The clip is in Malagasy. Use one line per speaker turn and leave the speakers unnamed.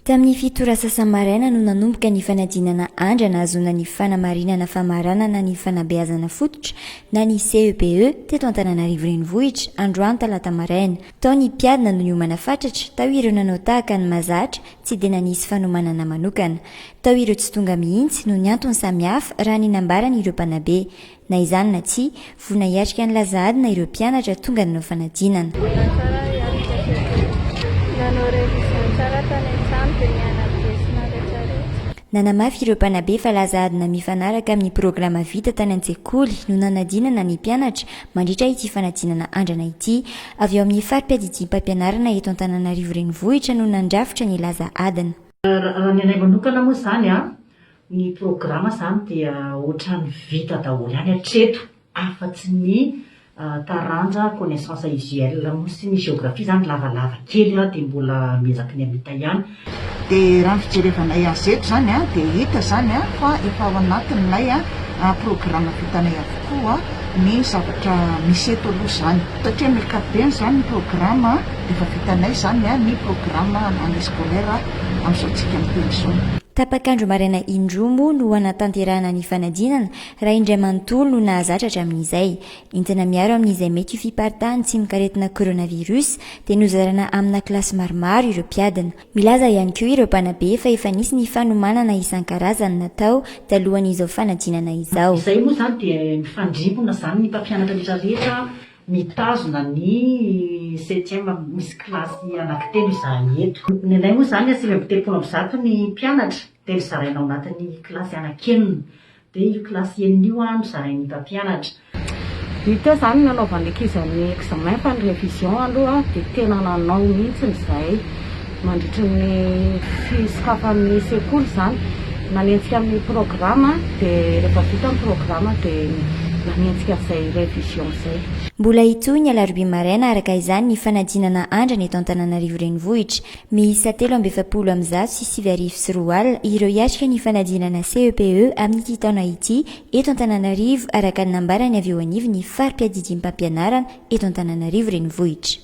Tamin'ny fito ora sasa-maraina no nanomboka ny fanadinana andra nahazoana ny fanamarinana famaranana ny fanabeazana fototra na ny CEPE e, teto Antananarivo Renivohitra, androany talata maraina. Tao ny mpiadina no niomana fatratra, tao ireo nanao tahaka ny mahazatra, tsy dia nanisy fanomanana manokana. Tao ireo tsy tonga mihitsy, noho ny antony samihafa, raha ny nambaran'ireo mpanabe. Na izany na tsia, voa nahiatrika an'i Lazahadina ireo mpianatra tonga nanao fanadinana. Mbola tsara hiatrika teo kokoa. Nanao révision tsara tany an-trano dia nianatra lesona rehetrarehetra. Nanamafy ireo mpanabe fa Lazahadina mifanaraka amin'ny programa vita tany an-tsekoly no nanadinana ny mpianatra mandritra ity fanadinana andrana ity. Avy ao amin'ny fari-piadidiam-pampianarana eto Antananarivo Renivohitra no nandrafitra ny Lazahadina. Raha ny anay
manokana moa izany, Ny programa izany dia ohatrany vita daholo any hatreto afatsy ny taranja connaissance usuelle moa sy ny géographie izany lavalava kely an dia mbola miezaky ny hamita ihany. Dia raha ny
fijerevanay azy eto izany an dia hita izany fa efa ao anatin'ilay programa vitanay avokoa ny zavatra misy eto aloha izany satria amin'ny ankapobeny izany ny programa efa vitanay izany ny programa année scolaire asantsika en personne. Tapak'andro maraina
indroa moa no hanatanterahana ny fanadinana raha indray manontolo no nahazatra hatramin'izay. Entina miaro amin'izay mety ho fiparitahan'ny tsimok'aretina coronavirus dia nozaraina amina kilasy maromaro ireo mpiadina. Milaza ihany koa ireo mpanabe fa efa nisy ny fanomanana isan-karazany natao talohan'izao fanadinana izao. Izay moa izany dia
mifandrimpona izany ny mpampianatra rehetra rehetra Mitazona ny septième misy kilasy anankitelo izahay eto. Ny anay moa izany sivy amby telopolo amby zato ny mpianatra dia nozaraina ao anatin'ny kilasy anankenina. Dia io kilasy enina io no zarain'ny mpampianatra. Io teo
izany no anaovan'ny ankizy ny examen fa ny révision aloha dia tena nanao mihitsy izahay. Mandritra ny fisokafan'ny sekoly izany, nanenjika ny programa dia rehefa vita ny programa dia nanenjika an'izay révision izay. Mbola hitohy ny
alarobia maraina araka izany ny fanadinana andrana eto Antananarivo Renivohitra. Miisa telo amby efapolo amin'ny zato sy sivy arivo sy roa al ireo hiatrika ny fanadinana CEPE amin'ity taona ity eto Antananarivo araka ny nambaran'ny avy eo anivon'ny fari-piadidiam-pampianarana eto Antananarivo Renivohitra.